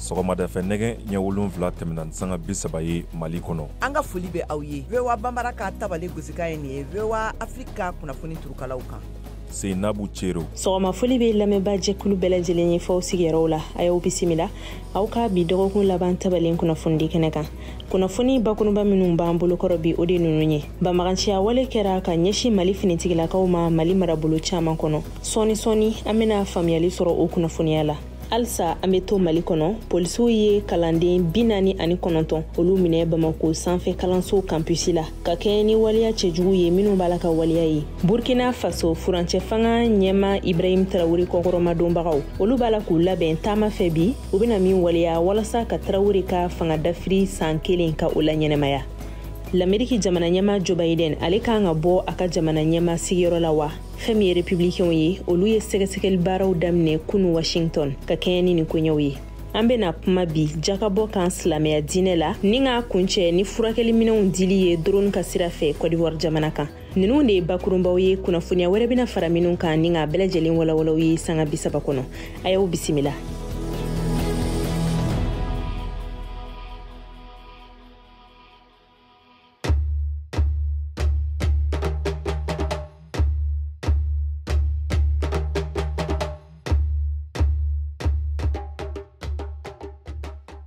sɔgɔmada fɛ nɛgɛ ɲɛ wolonfila tɛmɛna ni sanga bi saba ye mali kɔnɔ an ka foli bɛ aw ye voa banbara ka tabale gosikan ye nin ye voa afiriki ka kunnafoni turukalaw kan seinabu cero sɔgɔma foli bɛ lamɛnba jɛkulu bɛɛ lajɛlen ye f'aw sigiyɔrɔw la a y'aw bisimila aw ka bi dɔgɔkun laban tabale kunnafonidi kɛnɛ kan kunnafoni bakuruba minnu b'an bolokɔrɔ bi o de nunu ye banbaganciya wale kɛra ka ɲɛsin mali finitigilakaw ma mali marabolo caaman kɔnɔ sɔɔni sɔɔni an bena faamuyali sɔrɔ o kunnafoniya la halisa an be to mali kɔnɔ polisiw ye kalanden bi naani ani kɔnɔntɔn olu minɛ bamako sanfɛ kalanso kanpusi la ka kɛɲɛ ni waleya cɛjugu ye minw b'a la ka waleya ye burkina faso furancɛ fanga ɲɛma ibrahim tarawure kɔkɔrɔmadonbagaw olu b'a la k'u labɛn taama fɛ bi u bɛna min waleya walasa ka tarawure ka fanga dafiri san kelen ka o laɲɛnamaya lameriki jamana ɲɛma joe biden ale kan ka bɔ a ka jamana ɲɛma sigiyɔrɔ la wa fɛn min ye republikɛnw ye olu ye sɛgɛsɛgɛli baaraw daminɛ kunu washington ka kɛɲɛ ni nin koɲɛw ye an bena kuma bi jakabɔ kan silamɛya diinɛ la ni k'a kuncɛ ni furakɛli minɛnw dili ye doroni ka sira fɛ kɔdiwari jamana kan ninnu de ye bakurubaw ye kunnafoniya wɛrɛ bɛna fara minnu kan ni k'a bɛɛ lajɛlen walawal'aw ye sanga bisaba kɔnɔ a y'aw bisimila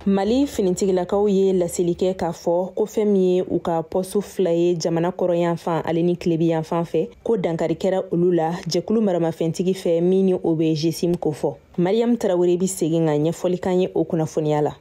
mali finitigilakaw ye laseli kɛ k'a fɔ ko fɛn min ye u ka pɔsu fila ye jamana kɔrɔnyanfan ale ni tilebinyanfan fɛ ko dankari kɛra olu la jɛkulu maramafɛntigi fɛ min ni o bɛ jesim kofɔ mariyamu tarawure bɛ segin ka ɲɛfɔli k'an ye o kunnafoniya la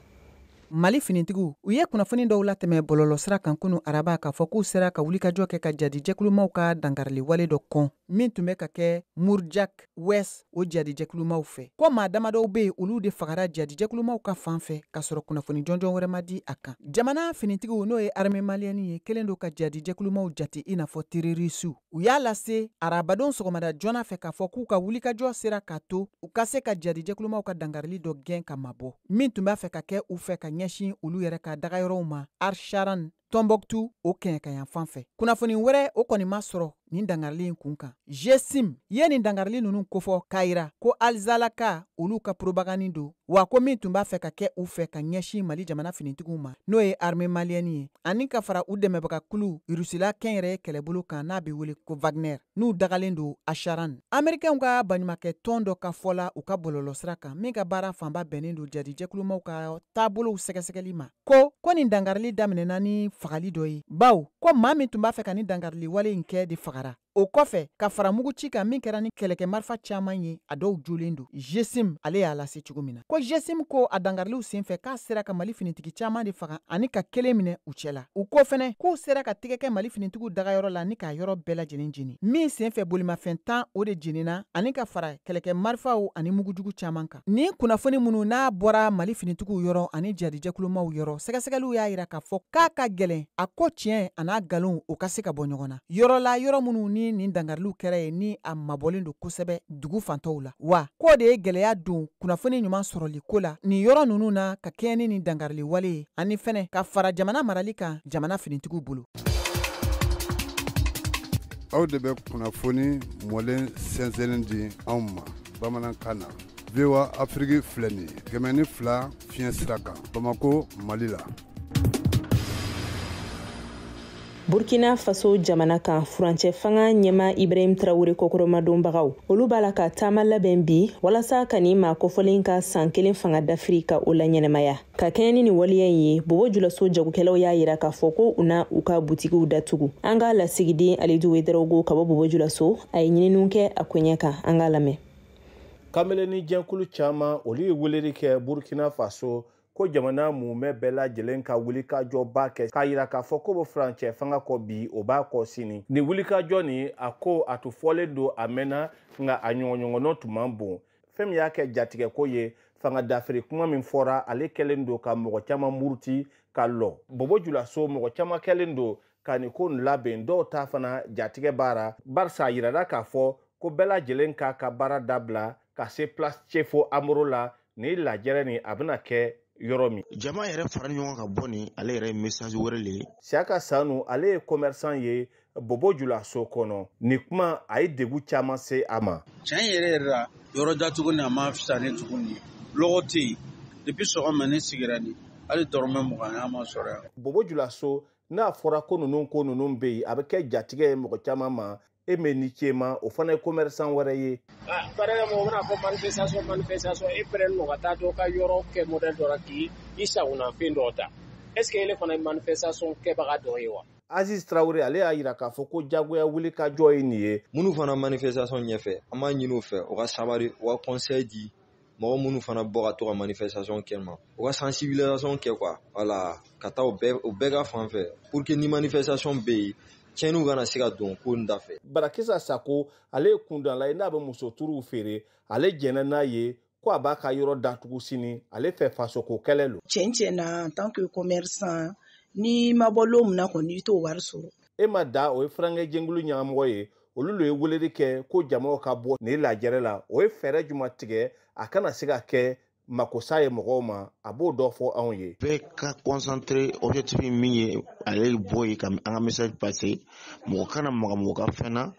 mali finitigiw u ye kunnafoni dɔw latɛmɛ bɔlɔlɔsira kan kunu araba k'a fɔ k'u sera ka wulikajɔ kɛ ka jadijɛkulumaw ka dankarili wale dɔ kɔn min tun bɛ ka kɛ mourdiah ouest o jadijɛkulumaw fɛ ko maa damadɔw bɛ yen olu de fagara jadijɛkulumaw ka fan fɛ k'a sɔrɔ kunnafoni jɔnjɔn wɛrɛ ma di a kan jamana finitigiw n'o ye arme maliyɛni ye kɛlen don ka jadijɛkulumaw jate i n'a fɔ terorisiw u y'a lase arabadon sɔgɔmada joona fɛ k'a fɔ k'u ka wulikajɔ sera k'a to u ka se ka jadijɛkulumaw ka dankarili dɔ gɛn ka mabɔ min tun b'a fɛ ka kɛ u fɛ ka ɲɛsin olu yɛrɛ ka dagayɔrɔw ma arsharan tɔnbɔktu o kɛɲɛkayanfan fɛ kunnafoni wɛrɛ o kɔni ma sɔrɔ nin dangarili in kun kan jesim ye nin dangarili ninnu kofɔ k'a yira ko alizalaka olu ka poropagandi don wa ko min tun b'a fɛ ka kɛ u fɛ ka ɲɛsin mali jamana finitigiw ma n'o ye arme maliyɛni ye ani ka fara u dɛmɛbaga kulu rusila kɛnyɛrɛye kɛlɛbolo kan n'a be wele ko wagner n'u dagalen don asharan amerikɛnw ka baɲumakɛ tɔn dɔ ka fɔ la u ka bɔlɔlɔsira kan min ka baara fanba bɛnnen don jadijɛkulumaw ka taabolow sɛgɛsɛgɛli ma ko ko nin dangarili daminɛna ni fagali dɔ ye bawo ko maa min tun b'a fɛ ka ni dangarili wale in kɛ de fagara o kɔfɛ ka fara mugu ci kan min kɛra ni kɛlɛkɛ marifa caman ye a dɔw jolen don jesim ale y'a lase cogo min na ko jesim ko a dangariliw senfɛ k'a sera ka mali finitigi caman de faga ani ka kelen minɛ u cɛ la u ko fɛnɛ k'u sera ka tigɛ kɛ mali finitigiw dagayɔrɔ la ni k'a yɔrɔ bɛɛ lajɛlen jeni min senfɛ bolimafɛn tan o de jenina ani ka fara kɛlɛkɛ marifaw ani mugujugu caman kan Nin kunnafoni minnu n'a bɔra mali finitigiw yɔrɔ ani jihadi jɛkulumaw yɔrɔ sɛgɛsɛgɛliw y'a yira k'a fɔ k'a ka gɛlɛn a ko tiɲɛ a n'a galon u ka se ka bɔ ɲɔgɔn na yɔrɔ la yɔrɔ minnu ni nin dangariliw kɛra yen ni a mabɔlen don kosɛbɛ dugu fan tɔw la wa k'o de ye gɛlɛya don kunnafoni ɲuman sɔrɔli ko la nin yɔrɔ ninnu na ka kɛɲɛ ni nin dangarili wale ye ani fɛnɛ ka fara jamana marali kan jamana finitigiw bolo aw de bɛ kunnafoni mɔlen sɛnsɛnnen di anw ma bamanankan na voa afiriki filɛ nin ye kɛmɛ ni fila fiɲɛ sira kan bamako mali la burkina faso jamana kan furancɛ fanga ɲɛmaa ibrahim tarawele kɔkɔrɔmadonbagaw olu b'a la ka taama labɛn bi walasa ka nin maa kofɔlen ka san kelen fanga dafiri ka o laɲɛnamaya ka kɛɲɛ ni nin waleya in ye bobo julaso jagokɛlaw y'a yira k'a fɔ ko u na u ka butikiw datugu an ka lasigiden alidu wedarawogo ka bɔ bobo julaso a ye ɲininiw kɛ a koɲɛ kan an k'a lamɛn kameleni jɛkulu caman olu ye weleli kɛ burkina faso ko jamana mumɛ bɛɛ lajɛlen ka wulikajɔba kɛ k'a yira k'a fɔ k'o bɛ furancɛ fanga kɔ bi o b'a kɔ sini nin wulikajɔ nin a ko a tun fɔlen don a mɛnna nka a ɲɔgɔnɲɔgɔnnɔ tun man bon fɛn min y'a kɛ jatigɛko ye fanga dafiri kuma min fɔra ale kɛlen don ka mɔgɔ caman muruti ka lɔ bobo julaso mɔgɔ caman kɛlen don ka nin ko nin labɛn dɔw ta fana jatigɛ b'a ra barisa a yirara k'a fɔ ko bɛɛ lajɛlen k'a ka baara dabila ka se place cefo amoro la ni lajɛrɛ nin a bɛna kɛ yɔrɔ min jama yɛrɛ fara ɲɔgɔn ka bɔ nin ale yɛrɛ ye message wɛrɛ le ye siyaka sanu ale ye commerçant ye bobo julaso kɔnɔ nin kuma a ye degun caman se a ma tiɲɛ yɛrɛ yɛrɛ la yɔrɔ datugu ni a ma fisa ni tugun ni lɔgɔ tɛ yen depuis sɔgɔma ne sigira ni hali dɔrɔmɛ mugan ma sɔrɔ yan bobo julaso n'a fɔra ko ninnu ko ninnu bɛ yen a bɛ kɛ jatigɛ ye mɔgɔ caman ma Aimé Nikiéma o fana ye commerçant wɛrɛ ye par exemple mɔgɔ bɛna fɔ manifestation manifestation e pɛrɛn nɔ ka taa dɔ ka yɔrɔ kɛ modèle dɔ la k'i sagona fɛn dɔ ta est ce que ele fana ye manifestation kɛbaga dɔ ye wa Aziz Traoré ale y'a yira k'a fɔ ko jagoya wulikajɔ ye nin ye minnu fana manifestation ɲɛfɛ an b'a ɲini u fɛ u ka sabari u ka conseil di mɔgɔ minnu fana bɔ ka to ka manifestation kɛ ma u ka sensibilisation kɛ quoi voilà ka taa u bɛɛ ka fan fɛ pour que ni manifestation bɛ yen tiɲɛniw kana se ka don ko in da fɛ barakisa sako ale ye kundanla ye n'a bɛ muso turuw feere ale jɛnna n'a ye ko a b'a ka yɔrɔ datugu sini ale fɛ fasoko kɛlɛ lo tiɲɛ tiɲɛ na en tant que commerçant n'i ma bɔ lon min na kɔni i t'o wari sɔrɔ e ma da o ye furankɛ jɛnkulu ɲɛmɔgɔ ye olu lo ye weleli kɛ ko jamaw ka bɔ nin lajɛrɛ la o ye fɛɛrɛ juma tigɛ a kana se ka kɛ makosa ye mɔgɔw ma a b'o dɔ fɔ anw ye bɛɛ ka concentrer objectif min ye ale bɔ ye ka an ka message passer mɔgɔ kana maga mɔgɔ ka fɛn na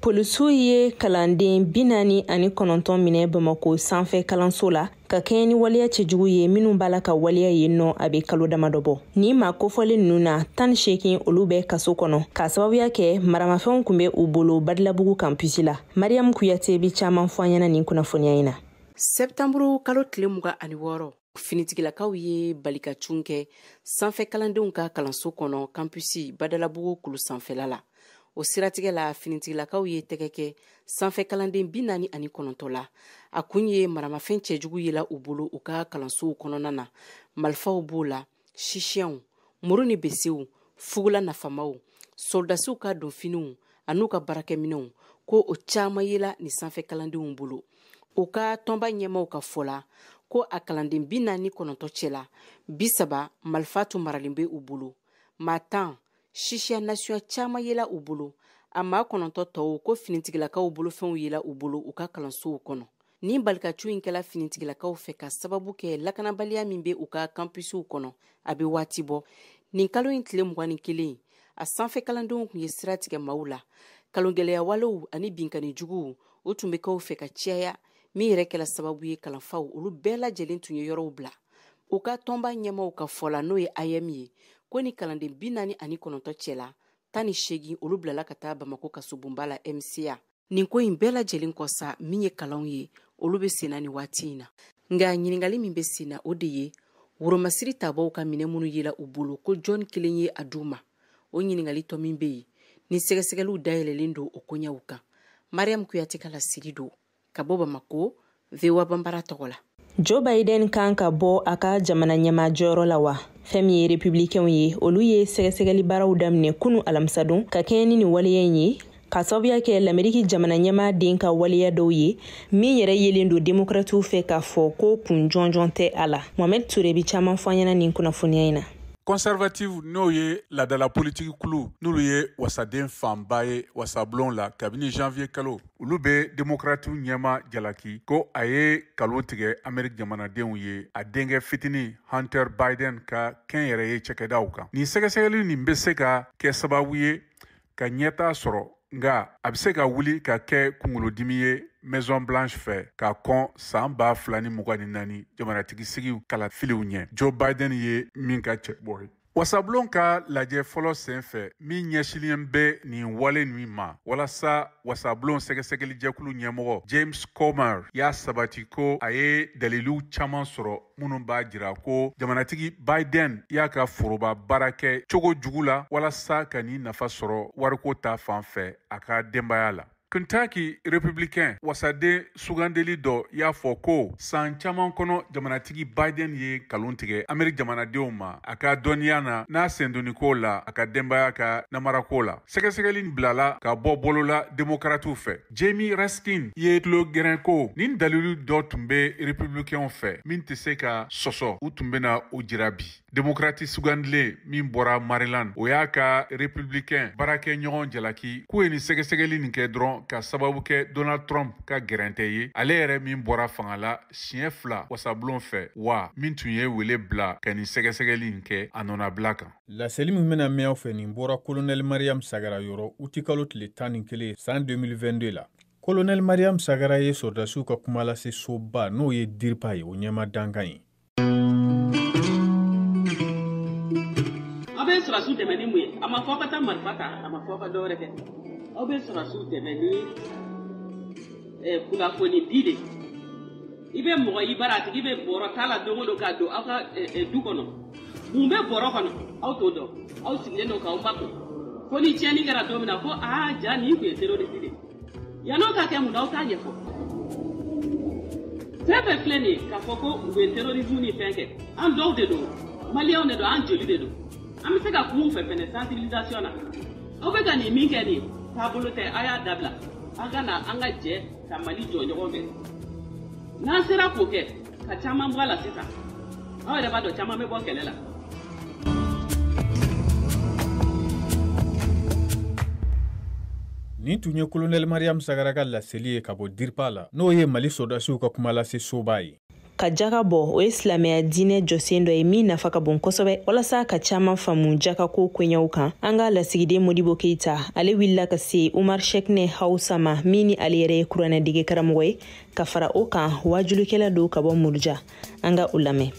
polisiw ye kalanden bi naani ani kɔnɔntɔn minɛ bamako sanfɛ kalanso la ka kɛɲɛ ni waleya cɛjugu ye minnu b'a la ka waleya yen nɔ a bɛ kalo damadɔ bɔ nin maa kofɔlen ninnu na tan ni seegin olu bɛ kaso kɔnɔ k'a sababuya kɛ maramafɛnw kun bɛ u bolo badilabugu kampusi la mariam kuyate bi caaman fɔ an ɲɛna nin kunnafoniya in na sɛptanburu kalo tile mugan ani wɔɔrɔ finitigilakaw ye balikacun kɛ sanfɛ kalandenw ka kalanso kɔnɔ kampusi badalabugu kulu sanfɛla la o siratigɛ la finitigilakaw ye tɛgɛ kɛ sanfɛ kalanden bi naani ani kɔnɔntɔn la a kun ye maramafɛn cɛjugu yela u bolo u ka kalansow kɔnɔna na malifaw b'o la chichaw muru ni besew fugula nafamaw sɔrɔdasiw ka donfiniw an'u ka baarakɛminɛw ko o caman yela nin sanfɛ kalandenw bolo u ka tɔnba ɲɛmaaw ka fɔ la ko a kalanden bi naani ni kɔnɔntɔn cɛla bi saba malifa tun maralen bɛ u bolo maa tan chicha nasiya caman yela u bolo a maa kɔnɔntɔn tɔw ko finitigilakaw bolofɛnw yela u bolo u ka kalansow kɔnɔ nin balikacun in kɛla finitigilakaw fɛ k'a sababu kɛ lakanabaliya min bɛ u ka kampusiw kɔnɔ a bɛ waati bɔ nin kalo in tile mugan ni kelen a sanfɛ kalandenw kun ye sira tigɛ maaw la kalongɛlɛya walew ani binkanni juguw o tun bɛ kɛ u fɛ ka ciyaya min yɛrɛ kɛla sababu ye kalanfaw olu bɛɛ lajɛlen tun ye yɔrɔw bila u ka tɔnba ɲɛmaaw ka fɔ la n'o ye aeem ye ko nin kalanden bi naani ani kɔnɔntɔn cɛla tan ni seegin olu bilala ka taa bamako kasobonba la mca nin ko in bɛɛ lajɛlen kɔ sa min ye kalanw ye olu bɛ senna nin waati in na nka ɲininkali min bɛ senna o de ye woromasiri tabaw ka minɛn minnu yela u bolo ko jɔn kelen ye a d'u ma o ɲininkali tɔ min bɛ yen ni sɛgɛsɛgɛliw dayɛlɛlen don o koɲɛw kan mariam kuyate ka laseli don ka bɔ bamako voa bambara tɔgɔ la joe biden kan ka bɔ a ka jamana ɲɛmaa jɔyɔrɔ la wa fɛn min ye republikɛnw ye olu ye sɛgɛsɛgɛli baaraw daminɛ kunu alamisadon ka kɛɲɛ ni nin waleya in ye k'a sababuya kɛ lameriki jamana ɲɛmaa den ka waleya dɔw ye min yɛrɛ yelen don demokratiw fɛ k'a fɔ ko kun jɔnjɔn tɛ a la mohamɛd ture bi caaman fɔ an ɲɛna nin kunnafoniya in na conservative n'o ye laadala politiki kulu n'olu ye wasaden fanba ye wasablon la kabini janvier kalo olu bɛ demokratiw ɲɛmaa jalaki ko a ye kalon tigɛ amerik jamanadenw ye a denkɛ fitini hunter biden ka kɛnyɛrɛye cakɛdaw kan nin sɛgɛsɛgɛli nin bɛ se ka kɛ sababu ye ka ɲɛtaa sɔrɔ nka a bɛ se ka wuli ka kɛ kunkolodimi ye maison blanche fɛ ka kɔn san ba fila ni mugan ni naani jamanatigi sigiw kalafiliw ɲɛ joe biden ye min ka cɛbɔ ye wasabulon ka lajɛ fɔlɔ sen fɛ min ɲɛsinlen bɛ nin wale nin ma walasa wasabulon sɛgɛsɛgɛlijɛkulu ɲɛmɔgɔ james comer y'a sabati ko a ye daliliw caman sɔrɔ minnu b'a jira ko jamanatigi biden y'a ka foroba baara kɛ cogo jugu la walasa ka ni nafa sɔrɔ wariko ta fan fɛ a ka denbaya la Kentucky Republicain wasaden sugandeli dɔ y'a fɔ ko san caman kɔnɔ jamanatigi Biden ye kalon tigɛ Amerique jamanadenw ma a ka dɔnniya na n'a sendonniko la a ka denbaya ka namarako la. Sɛgɛsɛgɛli bilala ka bɔ bolo la demokratiw fɛ. Jamie Raskin ye tulo gɛrɛn ko ni dalilu dɔ tun bɛ Republicainw fɛ min tɛ se ka sɔsɔ u tun bɛna o jira bi. Demokrati sugandilen min bɔra Maryland, o y'a ka republicain baarakɛ ɲɔgɔn jalaki k'u ye nin sɛgɛsɛgɛli nin kɛ dɔrɔn ka sababu kɛ Donald Trump ka gɛrɛntɛ ye, ale yɛrɛ min bɔra fanga la siɲɛ fila wasabulon fɛ wa min tun ye wele bila ka nin sɛgɛsɛgɛli nin kɛ a nɔnabila kan. Laseli min bɛna mɛn aw fɛ nin bɔra Kolonɛli Mariam Sagara yɔrɔ utikalo tile tan ni kelen san 2022 la. Kolonɛli Mariam Sagara ye sɔrɔdasiw ka kuma lase soba n'o ye DIRPA ye o ɲɛmaa dankan ye. aw bɛ sɔrɔsiw dɛmɛ ni mun ye a ma fɔ aw ka taa marifa ta a ma fɔ aw ka dɔ wɛrɛ kɛ aw bɛ sɔrɔsiw dɛmɛ ni eh, kunnafoni di de i bɛ mɔgɔ i bara a tigi bɛ bɔrɔ ta la don o don k'a don aw ka eh, eh, du kɔnɔ mun bɛ bɔrɔ kɔnɔ aw t'o dɔn aw sigilen don k'aw makun fo ni tiɲɛni kɛra don min na ko aa ja nin tun ye terorisi de ye yan'o ka kɛ mun na aw t'a ɲɛfɔ fɛn fɛn filɛ nin ye k'a fɔ ko u bɛ terrorisme ni fɛn kɛ an dɔw de don maliyɛnw de don an joli de don an bɛ se ka kuma u fɛ fɛnɛ sensibilisation na aw bɛ ka nin min kɛ nin taabolo tɛ a y'a dabila an ka na an ka jɛ ka mali jɔ ɲɔgɔn fɛ n'an sera k'o kɛ ka caman bɔ a la sisan aw yɛrɛ b'a dɔn caman bɛ bɔ kɛlɛ la nin tun ye kolonɛli mariyamu sagara ka laseli ye ka bɔ diripa la n'o ye mali sɔrɔdasiw ka kuma lase soba ye ka jaka bɔ o ye silamɛya diinɛ jɔsen dɔ ye min nafa ka bon kosɛbɛ walasa ka caman faamu jaka ko koɲɛw kan an ka lasigiden modibo keita ale wulila ka se umar shɛkinɛ hausa ma min ni ale yɛrɛ ye kuranɛdege karamɔgɔ ye ka fara o kan waajulikɛla don ka bɔ muruja an ka u lamɛn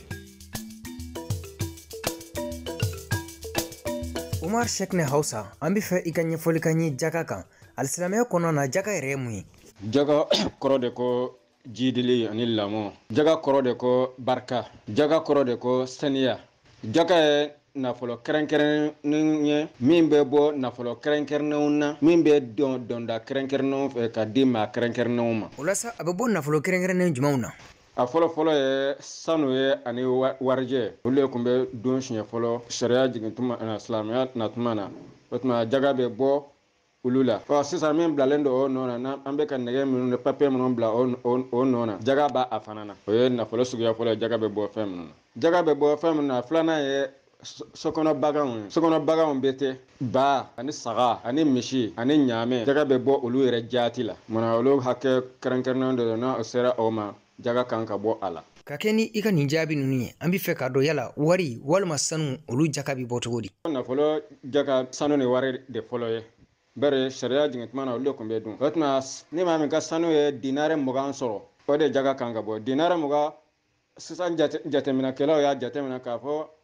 umar sekne hausa an b'a fɛ i ka ɲɛfɔli k'an ye jaka kan alisilamɛya kɔnɔna na jaka yɛrɛ ye mun ye jaka kɔrɔ de ko jiidili ani lamɔ jaka kɔrɔ de ko barika jaka kɔrɔ de ko saniya jaka ye nafolo kɛrɛnkɛrɛnnen ye min bɛ bɔ nafolo kɛrɛnkɛrɛnnenw na min bɛ don donda kɛrɛnkɛrɛnnenw fɛ ka di maa kɛrɛnkɛrɛnnenw ma o la sa a bɛ bɔ nafolo kɛrɛnkɛrɛnnen jumɛnw na a fɔlɔ fɔlɔ ye sanu ye ani warijɛ olu de tun bɛ dun siɲɛ fɔlɔ sariya jigin tuma silamɛya na tuma na o tuma jaga bɛ bɔ olu la ɔ sisan min bilalen don o nɔ na n'an bɛ ka nɛgɛ minnu ni papiye minnu bila o nɔ na jaga b'a fana na o ye nafolo suguya fɔlɔ ye jaga bɛ bɔ fɛn minnu na jaga bɛ bɔ fɛn minnu na filanan ye sokɔnɔ baganw ye sokɔnɔ baganw bɛɛ tɛ ba ani saga ani misi ani ɲaamɛ jaga bɛ bɔ olu yɛrɛ jaati la maana olu hakɛ kɛrɛnkɛrɛnnen dɔ don n'a sera o ma jaga kan ka bɔ a la ka kɛɲɛ ni i ka nin jaabi ninnu ye an b'a fɛ k'a dɔn yala wari walima sanu olu jaka bɛ bɔ cogo di nafolo jaka sanu ni wari de fɔlɔ ye bari sariya jigin tuma na olu de tun bɛ dun o tuma ni maa min ka sanu ye dinare mugan sɔrɔ o de jaga kan ka bɔ dinare mugan sisan jateminɛkɛlaw y'a jateminɛ k'a fɔ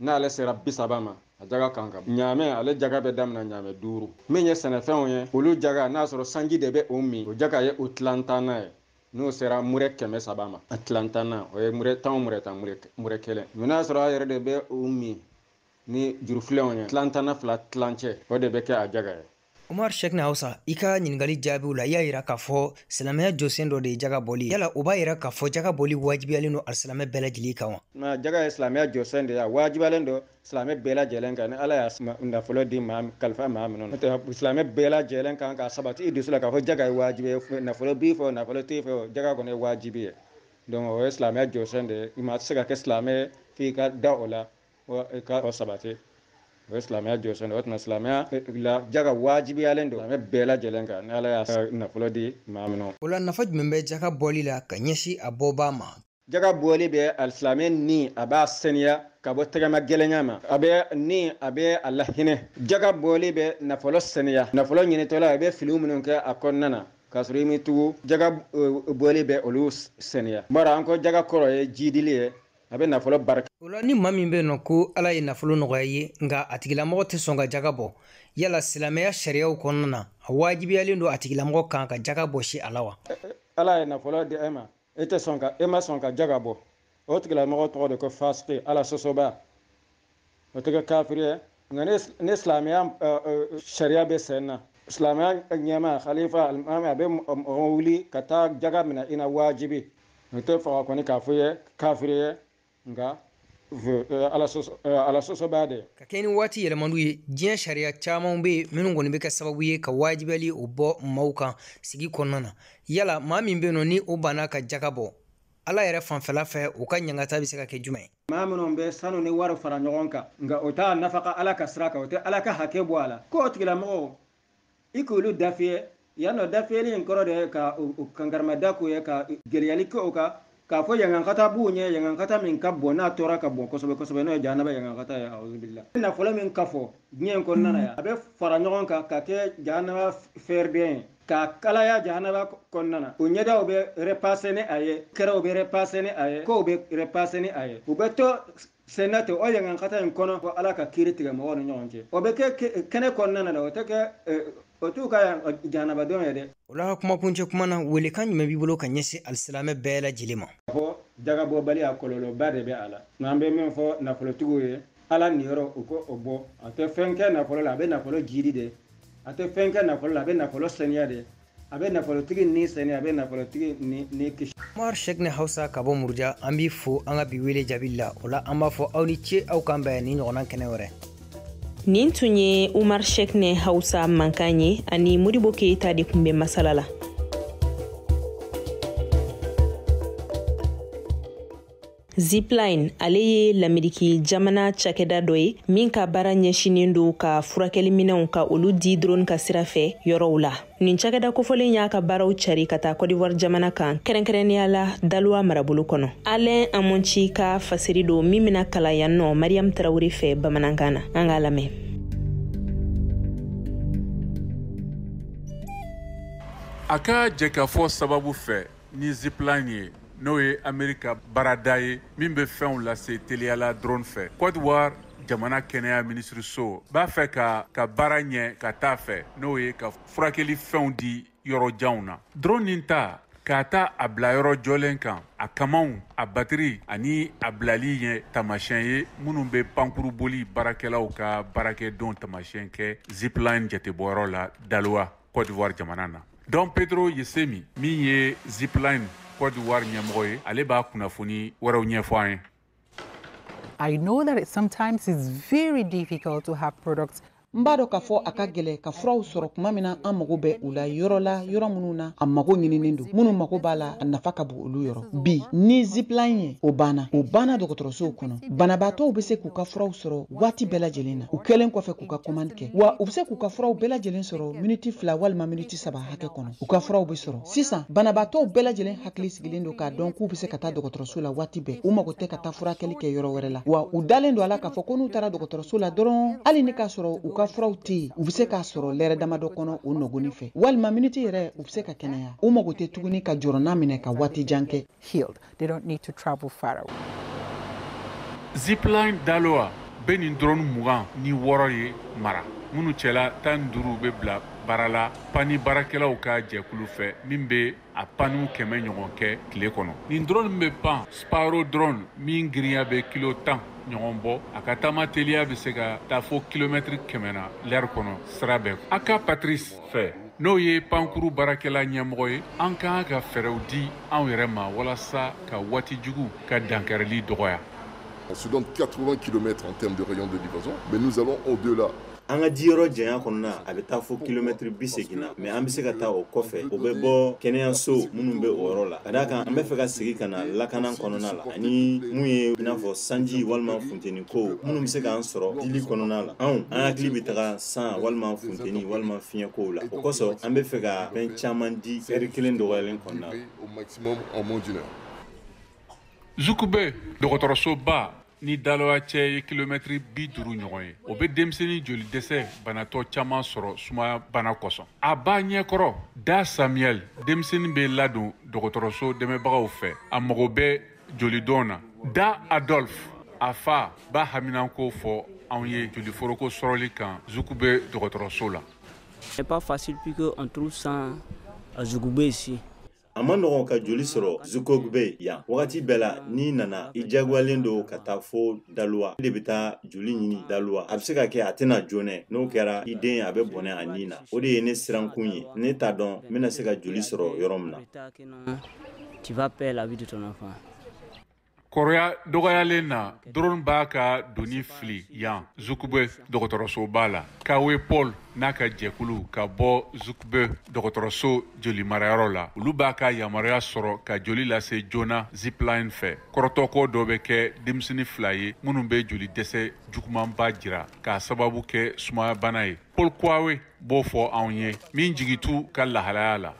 n'ale sera bi saba ma a jaga kan ka ɲaamɛ ale jaga bɛ damina ɲaamɛ duuru min ye sɛnɛfɛnw ye olu jaga n'a sɔrɔ sanji de bɛ o min o jaga ye o tilantanna ye n'o sera murɛ kɛmɛ saba ma a tilantanna o ye murɛ tan o murɛ tan murɛ kelen mɛ n'a sɔrɔ a yɛrɛ de bɛ o min ni jurufilenw ye tilantanna fila tilancɛ o de bɛ kɛ a jaga ye Umar Sheikh na Hausa i ka ɲininkali jaabiw la i y'a yira k'a fɔ silamɛya jɔsen dɔ de ye jaga bɔli yala o b'a yira k'a fɔ jaga bɔli wajibiyalen don alisilamɛ bɛɛ lajɛlen kan wa jaga ye silamɛya jɔsen de ye a wajibiyalen don silamɛ bɛɛ lajɛlen kan ni ala y'a nafolo di maa kalifa maa minnu na n'o tɛ silamɛ bɛɛ lajɛlen kan k'a sabati i dusu la k'a fɔ jaga ye wajibi ye nafolo b'i fɛ o nafolo t'i fɛ o jaga kɔni ye wajibi ye donc o ye silamɛya jɔsen de ye i ma se ka kɛ silamɛ f'i ka da o la ka o sabati o ye silamɛya jɔsen o tuma silamɛya la jaga wajibiyalen don silamɛ bɛɛ lajɛlen kan ni ala y'a nafolo di maa min o la nafa jumɛn bɛ jaga bɔli la ka ɲɛsin a bɔbaa ma jaga bɔli bɛ alisilamɛ ni a b'a saniya ka bɔ tɛgɛmagɛlɛya ma a bɛ ni a bɛ a lahinɛ jaga bɔli bɛ nafolo saniya nafolo ɲinitɔ la i bɛ fili minnu kɛ a kɔnɔna na k'a sɔrɔ i m'i tugu jaga bɔli bɛ olu saniya bari an ko jaga kɔrɔ ye jiidili ye a bɛ nafolo barika o la ni maa min bɛ yen nɔ ko ala ye nafolo nɔgɔya a ye nka a tigilamɔgɔ tɛ sɔn ka jaga bɔ yala silamɛya sariyaw kɔnɔna na a wajibiyalen don a tigilamɔgɔ kan ka jaga bɔsi a la wa ala ye nafolo di e ma e tɛ sɔn ka e ma sɔn ka jaga bɔ o tigilamɔgɔ tɔgɔ de ko fasiki ala sɔsɔbaa o tɛ kɛ kafiri ye nka ni silamɛya sariya bɛ sen na silamɛya ɲɛma khalifa alimami a bɛ mɔgɔ wuli ka taa jaga minɛ i na wajibi o tɛ faga kɔni k'a fɔ ye kafiri ye nka ala sɔsɔbaa de ka kɛɲɛ ni waati yɛlɛmaniw ye diɲɛ sariya caman bɛ yen minnu kɔni bɛ kɛ sababu ye ka wajibiyali o bɔ maaw kan sigi kɔnɔna na yala maa min bɛ yen nɔ ni o banna ka jaga bɔ ala yɛrɛ fanfɛla fɛ u ka ɲangata bɛ se ka kɛ jumɛn ye maa minnu bɛ sanu ni wari fara ɲɔgɔn kan nka o t'a nafaka ala ka sira kan o tɛ ala ka hakɛ bɔ a la ko o tigilamɔgɔw i k'olu dafiyɛ yan nɔ dafiyɛli in kɔrɔ de ye ka kankarimada k'u ye ka gɛlɛyali kɛ o kan k'a fɔ yangankata b'u ɲɛ yangankata min ka bon n'a tɔɔrɔ ka bon kosɛbɛ kosɛbɛ n'o ye jahanaba yangankata ye auzubila nafolo min kafo diɲɛ in kɔnɔna na yan a bɛ fara ɲɔgɔn kan ka kɛ jahanaba fɛɛrɛ de ye k'a kalaya jahanaba kɔnɔna na u ɲɛdaw bɛ repase ni a ye kɛrɛw bɛ repase ni a ye kɔw bɛ repase ni a ye u bɛ to senna ten o yangankata in kɔnɔ fɔ ala ka kiri tigɛ mɔgɔw ni ɲɔgɔn cɛ o bɛ kɛ kɛnɛ kɔnɔna na dɛ o tɛ kɛ eh, o t'u ka jahanabadon ye dɛ o la kumakuncɛ kuma na welekan jumɛn b'i bolo ka ɲɛsin alisilamɛ bɛɛ lajɛlen ma fɔ jagabɔbaliya kɔlɔlɔba de bɛ a la nka an bɛ min fɔ nafolotigiw ye ala niyɔrɔ u k'o bɔ a tɛ fɛn kɛ nafolo la a bɛ nafolo jiidi de a tɛ fɛn kɛ nafolo la a bɛ nafolo saniya de a bɛ nafolotigi ni saniya a bɛ nafolotigi ni kisi Umar Shekne Hausa ka bɔ Muruja an b'i fo an ka bi wele jaabi la o la an b'a fɔ aw ni ce aw k'an bɛn nin ɲɔgɔnna kɛnɛ wɛrɛ nin tun ye Umar Shekne Hausa mankan ye ani Modibo Keyita de tun bɛ masala la Zipline ale ye lameriki jamana cakɛda dɔ ye min ka baara ɲɛsinnen don ka furakɛli minɛnw ka olu di drone ka sira fɛ yɔrɔw la nin cakɛda kofɔlen y'a ka baaraw cari ka taa kɔdiwari jamana kan kɛrɛnkɛrɛnnenya la daluwa marabolo kɔnɔ alain amonci ka fasiri don min bɛna kalan yan nɔ mariyamu tarawure fɛ bamanankan na an k'a lamɛn a ka jɛkafɔ sababu fɛ ni zipline ye n'o ye amerika baarada ye min bɛ fɛnw lase teliyala drone fɛ cote d'ivoire jamana kɛnɛya minisiriso b'a fɛ ka baara ɲɛ ka taa fɛ n'o ye ka furakɛli fɛnw di yɔrɔ janw na drone nin ta k'a ta a bila yɔrɔ jɔlen kan a kamaw a batiri ani a bilali ye tamasiyɛn ye minnu bɛ pankuruboli baarakɛlaw ka baarakɛdon tamasiyɛn kɛ zipline jatebɔyɔrɔ la dalowa Cote d'Ivoire jamana na Don Pedro Yesemi min ye zipline Cote d'Ivoire ɲɛmɔgɔ ye ale b'a kunnafoni wɛrɛw ɲɛfɔ an ye I know that it sometimes it's very difficult to have products n b'a dɔn k'a fɔ a ka gwɛlɛ ka furaw sɔrɔ tuma min na an mago bɛ u la yɔrɔ la yɔrɔ minnu na a mago ɲininin don minnu mago b'a la a nafa ka bon olu yɔrɔ bi ni zipline ye o banna o banna dɔgɔtɔrɔsow kɔnɔ banabaatɔw bɛ se k'u ka furaw sɔrɔ waati bɛɛ lajɛlen na u kɛlen kɔfɛ k'u ka komandi kɛ wa u bɛ se k'u ka furaw bɛɛ lajɛlen sɔrɔ miniti fila walima miniti saba hakɛ kɔnɔ u ka furaw bɛ sɔrɔ sisan banabaatɔw bɛɛ lajɛlen hakili sigilen don k'a dɔn k'u bɛ se ka taa dɔgɔtɔrɔso la waati bɛɛ u mago tɛ ka taa furakɛli kɛ yɔrɔ wɛrɛ la wa u dalen don a la k'a fɔ ko n'u taara dɔgɔtɔrɔso la dɔrɔn hali ni k'a sɔrɔ u ka furaw tɛ yen u bɛ se k'a sɔrɔ lɛrɛ damadɔ kɔnɔ o nɔgɔni fɛ walima miniti yɛrɛ u bɛ se ka kɛnɛya u mago tɛ tuguni ka jɔrɔna minɛ ka waati jan kɛ healed They don't need to travel far away. Zipline Daloa bɛ nin drone mugan ni wɔɔrɔ ye mara minnu cɛla tan ni duuru bɛ bila baara la pani baarakɛlaw ka jɛkulu fɛ min bɛ a paniw kɛmɛ ɲɔgɔn kɛ tile kɔnɔ nin drone bɛ pan Sparrow drone min girinya bɛ kilo tan ɲɔgɔn bɔ a ka taama teliya bɛ se ka taa fo kilomɛtiri kɛmɛ na lɛri kɔnɔ sira bɛɛ Aka Patrice fɛ n'o ye pankuru baarakɛla ɲɛmɔgɔ ye an ka kan ka fɛɛrɛw di anw yɛrɛ ma walasa ka waati jugu ka dankarili dɔgɔya On se donne 80 km en termes de rayon de livraison, mais nous allons au-delà. an ka diyɔrɔ janya kɔnɔna a bɛ taa fo kilomɛtiri bi segin na mais an bɛ se ka taa o kɔfɛ o bɛ bɔ kɛnɛyaso minnu bɛ o yɔrɔ la ka d'a kan an bɛ fɛ ka segin ka na lakana kɔnɔna la ani mun ye i n'a fɔ sanji walima funteni ko minnu bɛ se k'an sɔrɔ dili kɔnɔna la anw an hakili bɛ taga san walima funteni walima fiɲɛ kow la o kosɔn an bɛ fɛ ka fɛn caman di ɛri kelen dɔgɔyalen kɔnɔna la zukube dɔgɔtɔrɔsoba ni Daloa cɛ ye kilomɛtiri bi duuru ɲɔgɔn ye o bɛ denmisɛnnin joli dɛsɛ banatɔ caman sɔrɔ sumaya bana kosɔn a ba ɲɛ kɔrɔ Da Samuel denmisɛnnin bɛ ladon dɔgɔtɔrɔso dɛmɛbagaw fɛ a mago bɛ jolidon na Da Adolphe a fa b'a haminanko fɔ anw ye joli foroko sɔrɔli kan zukube dɔgɔtɔrɔso la n'est pas facile puisque on trouve ça à Zoukougbeu ici. a man nɔgɔn ka joli sɔrɔ zukogbe yan wagati bɛɛ la n'i nana i jagoyalen don ka taa fo Daloa i de bɛ taa joli ɲini Daloa a bɛ se ka kɛ a tɛ na joona n'o kɛra i den a bɛ bɔnɛ a ni na o de ye ne sirankun ye ne t'a dɔn n bɛna se ka joli sɔrɔ yɔrɔ min na Tu vas perdre la vie de ton enfant. kɔrɔya dɔgɔyalen na drone b'a ka doni fili yan zukube dɔgɔtɔrɔsoba la kawe paul n'a ka jɛkulu ka bɔ zukube dɔgɔtɔrɔso jolimarayɔrɔ la olu b'a ka yamaruya sɔrɔ ka joli lase joona zipline fɛ kɔrɔtɔko dɔ bɛ kɛ denmisɛni fila ye minnu bɛ joli dɛsɛ jugumanba jira k'a sababu kɛ sumayabana ye paul kawe b'o fɔ anw ye min jigi t'u ka lahalaya la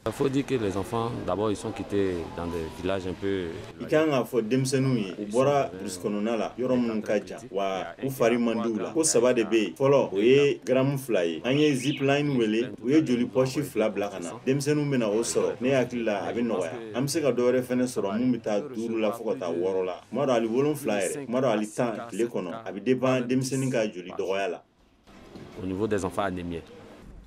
Il faut dire que les enfants, d'abord, ils sont quittés dans des villages un peu... I kan k'a fɔ denmisɛnninw ye u bɔra burusi kɔnɔna la yɔrɔ minnu ka jan wa u fari man di u la ko saba de bɛ yen fɔlɔ o ye garamu fila ye an ye zipline wele u ye joli pɔsi fila bila ka na denmisɛnninw bɛna o sɔrɔ ne hakili la a bɛ nɔgɔya an bɛ se ka dɔwɛrɛ fɛnɛ sɔrɔ min bɛ taa duuru la fo ka taa wɔɔrɔ la kuma dɔ ali wolonfila yɛrɛ kuma dɔ ali tan tile kɔnɔ a bɛ dépend denmisɛnnin ka joli dɔgɔya la Au niveau des enfants anémiés.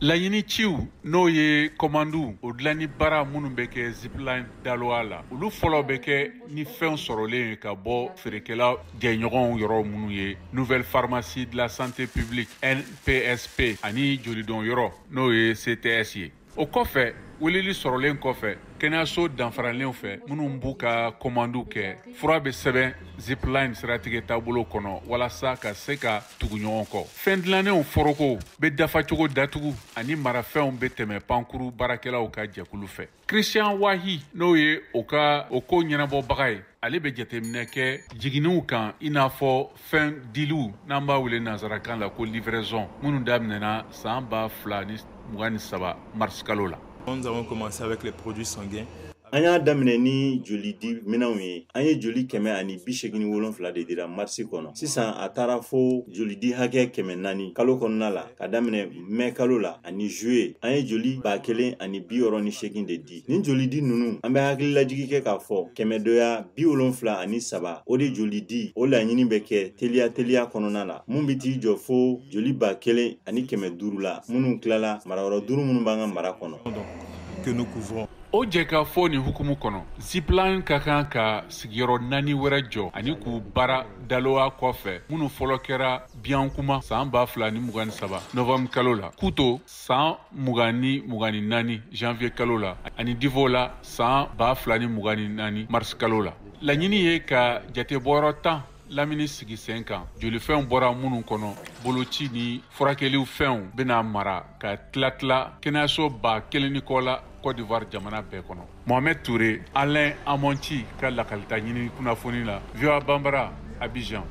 Laɲini ciw n'o ye kɔmanduw o dilanni baara minnu bɛ kɛ zipline daloa la olu fɔlɔ bɛ kɛ ni fɛnw sɔrɔlen ye ka bɔ feerekɛla jɛɲɔgɔnw yɔrɔ minnu ye nouvelle pharmacie de la santé publique npsp ani jolidon yɔrɔ n'o ye cts ye o kɔfɛ weleli sɔrɔlen kɔfɛ kɛnɛyaso danfaralenw fɛ minnu b'u ka kɔmandiw kɛ fura bɛ sɛbɛn zipline siratigɛ taabolo kɔnɔ walasa ka se ka tugu ɲɔgɔn kɔ fɛn dilannenw forokow bɛ dafacogo datugu ani marafɛnw bɛ tɛmɛ pankuru baarakɛlaw ka jɛkulu fɛ christian wahi n'o ye o ka o ko ɲɛnabɔbaga ye ale bɛ jateminɛ kɛ jiginniw kan i n'a fɔ fɛn diliw n'an b'a wele nansarakan la ko livraison minnu daminɛna san ba fila ni mugan ni saba marisikalo la Nous avons commencé avec les produits sanguins. An y'a daminɛ ni joli di minɛnw ye an ye joli kɛmɛ ani bi segin ni wolonfila de dira marisi kɔnɔ sisan a taara fo joli di hakɛ kɛmɛ naani kalo kɔnɔna la ka daminɛ mɛ kalo la ani zuye an ye joli ba kelen ani bi wɔɔrɔ ni segin de di nin jolidi ninnu an bɛ hakililajigi kɛ k'a fɔ kɛmɛdɔya bi wolonfila ani saba o de jolidi o laɲini bɛ kɛ teliya teliya kɔnɔna la mun bɛ t'i jɔ fo joli ba kelen ani kɛmɛ duuru la minnu tilala mara yɔrɔ duuru minnu b'an ka mara kɔnɔ o jɛkafɔ nin hukumu kɔnɔ zipline ka kan ka sigiyɔrɔ naani wɛrɛ jɔ ani k'u baara daloa kɔfɛ minnu fɔlɔ kɛra biankouma san ba fila ni mugan ni saba novembre kalo la kouto san mugan ni mugan ni naani janvier kalo la ani divo la san ba fila ni mugan ni naani mars kalo la laɲini ye ka jate bɔyɔrɔ tan lamini sigi sen kan jolifɛnw bɔra minnu kɔnɔ boloci ni furakɛliw fɛnw bɛna mara ka tila-tila kɛnɛyaso ba kelen ni kɔ la côte d'ivoire jamana bɛɛ kɔnɔ Mohamed toure alain amontchi ka lakalita ɲini kunnafoni la voa banbara abidjan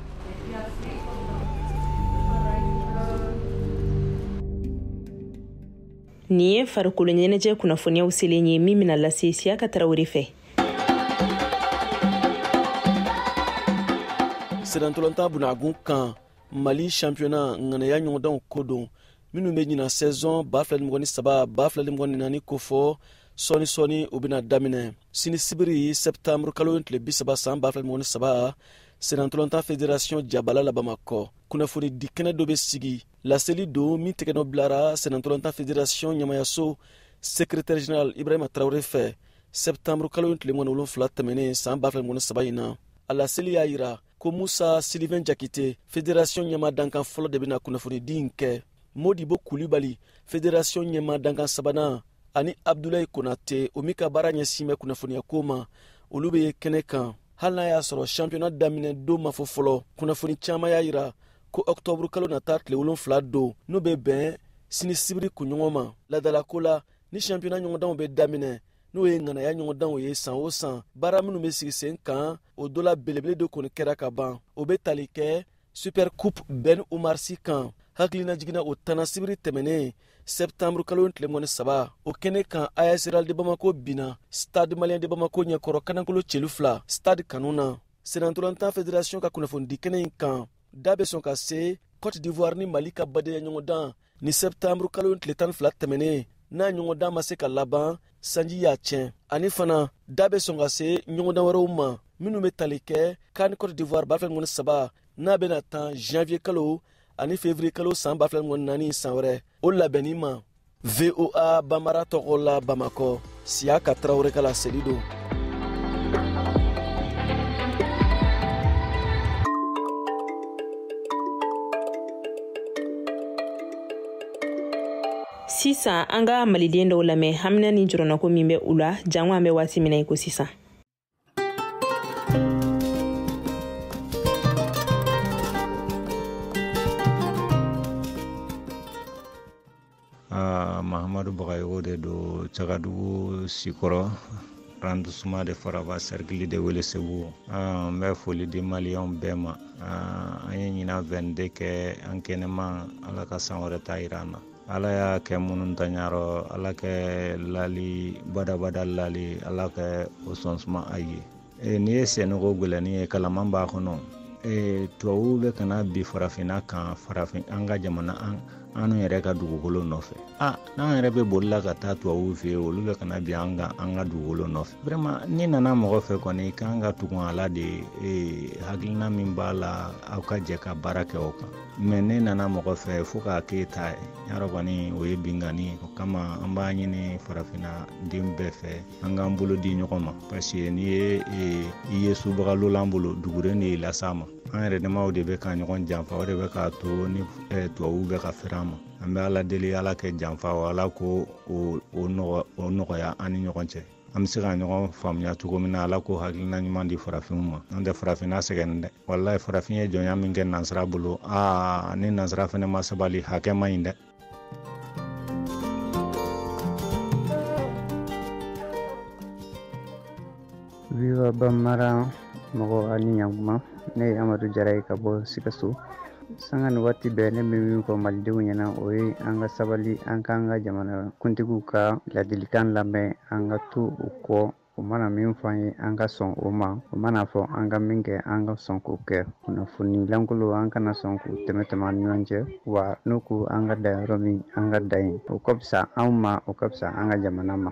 nin ye farikolo ɲɛnajɛ kunnafoniyaw selen ye min bɛna lase siyaka tarawele fɛ senantolonta bunagun kan mali shampiyona ŋanaya ɲɔgɔndanw ko don minnu bɛ ɲina sɛzɔn ba fila ni mɔgɔn ni saba ba fila ni mɔgɔn ni naani ko fɔ sɔɔni sɔɔni u bɛna daminɛ sini sibiri sɛptanburu kalo tile bisaba saan ba fila ni mɔgɔn ni saba senantolonta federasiyɔn jabala la bamakɔ kunnafoni di kɛnɛ dɔ bɛ sigi laseli don min tɛgɛnɔ bilara senantolonta federasiyɔn ɲɛmayaso sekretɛri general ibrahima tarawele fɛ sɛptanburu kalo tile mɔgɔn ni wolonfila tɛmɛnen saan ba fila ni mɔgɔn ni saba in na a laseli y'a yira ko musa silivɛn jakite federasiyɔn ɲɛma dankan fɔlɔ de bɛna kunnafonidi in kɛ modibo kulibali federasiyɔn ɲɛma dankan sabanan ani abdulayi konate o min ka baara ɲɛsin bɛ kunnafoniya ko ma olu bɛ kɛnɛ kan hali n'a y'a sɔrɔ shampiyona daminɛ don ma fɔ fɔlɔ kunnafoni caman y'a yira ko ɔktɔburu kalo nata tile wolonfila don n'o bɛ bɛn sini sibiri kunɲɔgɔn ma ladalako la ni shampiyona ɲɔgɔndanw bɛ daminɛ n'o ye ŋanaya ɲɔgɔndanw ye san o san baara minnu bɛ sigi sen kan o dɔ la belebele de kɔni kɛra ka ban o bɛ tali kɛ super coupe ben umar si kan hakilina jiginna o tanna sibiri tɛmɛnen sɛptanburu kalo tile mɔgɔn ni saba o kɛnɛ kan as real de bamako binna stade malien de bamako ɲɛkɔrɔ kanankolo celu fila stade kanu na senantolantan federasiɔn ka kunnafonidi kɛnɛ in kan da bɛ sɔn ka se cote d'ivoire ni mali ka badenya ɲɔgɔndan ni sɛptanburu kalo tile tan fila tɛmɛnen n'a ɲɔgɔndan ma se ka laban sanji y'a tiɲɛ ani fana da bɛ sɔn ka se ɲɔgɔndan wɛrɛw ma minnu bɛ tali kɛ can cote d'ivoire ba fila ni mɔgɔn ni saba n'a bɛna tan janvier kalo ani février kalo san ba fila ni mɔgɔn ni naani san wɛrɛ o labɛnni ma voa banbara tɔgɔ la bamakɔ siyaka tarawele ka laseli don sisan an ka maliden dɔw lamɛn hamina ni jɔrɔnako min bɛ u la jango an bɛ waati min na i ko sisan Ah, mahamadu bagayogo de don cagadugu sikɔrɔ arrondissement de faraba cercle de welesebugu ah, n bɛ foli di maliyɛnw bɛɛ ma ah, an ye ɲina 22 kɛ an kɛnɛma ala ka san wɛrɛ ta yira an na ala y'a kɛ minnu ta ɲa rɔ ala kɛ lali badabada lali ala kɛ o sɔn suma a ye e, n'i ye sɛnɛko gɛlɛnni ye kalaman b'a kɔnɔ e, tubabuw bɛ ka na bin farafinna kan farafin an ka jamana an an yɛrɛ ka dugukolo nɔfɛ a n'an yɛrɛ bɛ bolila ka taa tubabuw fɛ yen olu bɛ ka na bin an kan an ka dugukolo nɔfɛ vraiment n'i nana mɔgɔ fɛ kɔni kan ka tugun a la de hakilina min b'a la aw ka jɛ ka baara kɛ o kan mɛ n'e nana mɔgɔ fɛ fo k'a k'e ta ye ɲa rɔ kɔni o ye binkanni ye o kama an b'a ɲini farafinna den bɛɛ fɛ an k'an bolo di ɲɔgɔn ma paseke n'i ye e, i ye subaga lolan bolo duguren de y'i las'a ma an yɛrɛ damaw de bɛ ka ɲɔgɔn janfa o de bɛ k'a to ni e, tubabuw bɛ ka fɛrɛ an ma an bɛ ala deli ala kɛ janfa o ala k'o nɔgɔya an ni ɲɔgɔn cɛ an bɛ se ka ɲɔgɔn faamuya cogo min na ala k'o hakilina ɲuman di farafinw ma n'o tɛ farafin na sɛgɛn dɛ walayi farafin ye jɔnya min kɛ nansara bolo aa ni nansara fɛnɛ ma sabali hakɛ man ɲi dɛ voa bambara mɔgɔw aw ni ɲakuma ne ye amadu jara ye ka bɔ sikaso sanga ni waati bɛɛ ne bɛ min fɔ malidenw ɲɛna o ye an ka sabali an k'an ka jamana kuntigiw ka ladilikan lamɛn an ka to u kɔ u mana min fɔ an ye an ka sɔn o ma u man'a fɔ an ka min kɛ an ka sɔn k'o kɛ kunnafoni lankolon an kana sɔn k'u tɛmɛ tɛmɛ an ni ɲɔgɔn cɛ wa n'u ko an ka dan yɔrɔ min an ka dan yen o ka fisa anw ma o ka fisa an ka jamana ma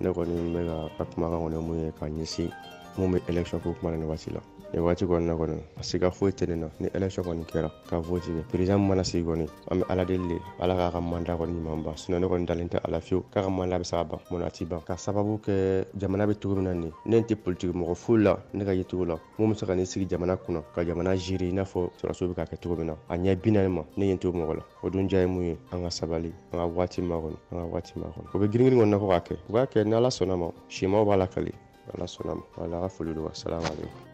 ne kɔni bɛ ka ka kumakan kɔni mun ye ka ɲɛsin mun bɛ élection ko kuma na nin waati la nin waati kɔni na kɔni a siga foyi tɛ ne na ni élection kɔni kɛra ka vote kɛ président mana sigi kɔni an bɛ ala deli de ala k'a ka mandat kɔni ɲuman ban sinon ne kɔni dalen tɛ a la fiyewu k'a ka mandat bɛ se ka ban mun a ti ban ka sababu kɛ jamana bɛ cogo min na nin ne tɛ politiki mɔgɔ foyi la ne ka yecogo la mun bɛ se ka na sigi jamana kunna ka jamana gérer i n'a fɔ sɔrɔsiw bɛ k'a kɛ cogo min na a ɲɛ bi naani ma ne ye n to mɔgɔ la o dun ja ye mun ye an ka sabali an ka waati makɔnɔ an ka waati makɔnɔ u bɛ giringirin ko min na ko k'a kɛ u b'a kɛ ni ala sɔnn'a ma simaw b'a lakali ala sɔnn'a ma wala ka foli don wa salamu aleykum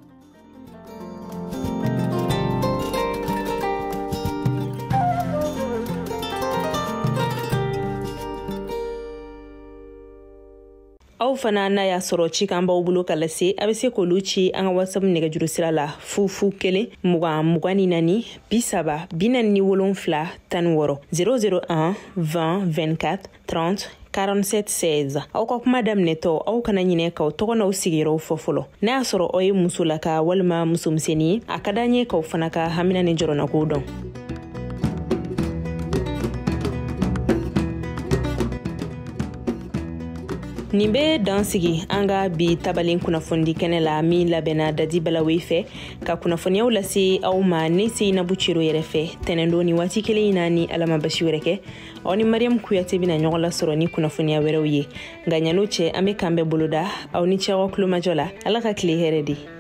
aw fana n'a y'a sɔrɔ cikan b'aw bolo ka lase a bɛ se k'olu ci an ka whatsapp nɛgɛjuru sira la fu fu kelen mugan mugan ni naani bi saba bi naani ni wolonfila tan ni wɔɔrɔ 001 20 24 30 4716 aw ka kuma daminɛtɔ aw kana ɲinɛ k'aw tɔgɔ n'aw sigiyɔrɔw fɔ fɔlɔ n'a y'a sɔrɔ aw ye musolaka walima musomisɛnnin ye a ka d'an ye k'aw fana ka hamina ni jɔrɔnakow dɔn nin bɛ dan sigi an ka bi tabalen kunnafonidi kɛnɛ la min labɛnna dadi balawe fɛ ka kunnafoniyaw lase aw ma ne seyinabu cero yɛrɛ fɛ tɛnɛndon nin waati kelen in na ni ala ma basi wɛrɛ kɛ aw ni mariyamu kuyate bɛna ɲɔgɔn lasɔrɔ ni kunnafoniya wɛrɛw ye nka ɲan'o cɛ an bɛ kan bɛɛ boloda aw ni cɛwa kulomajɔ la ala ka tile hɛrɛ di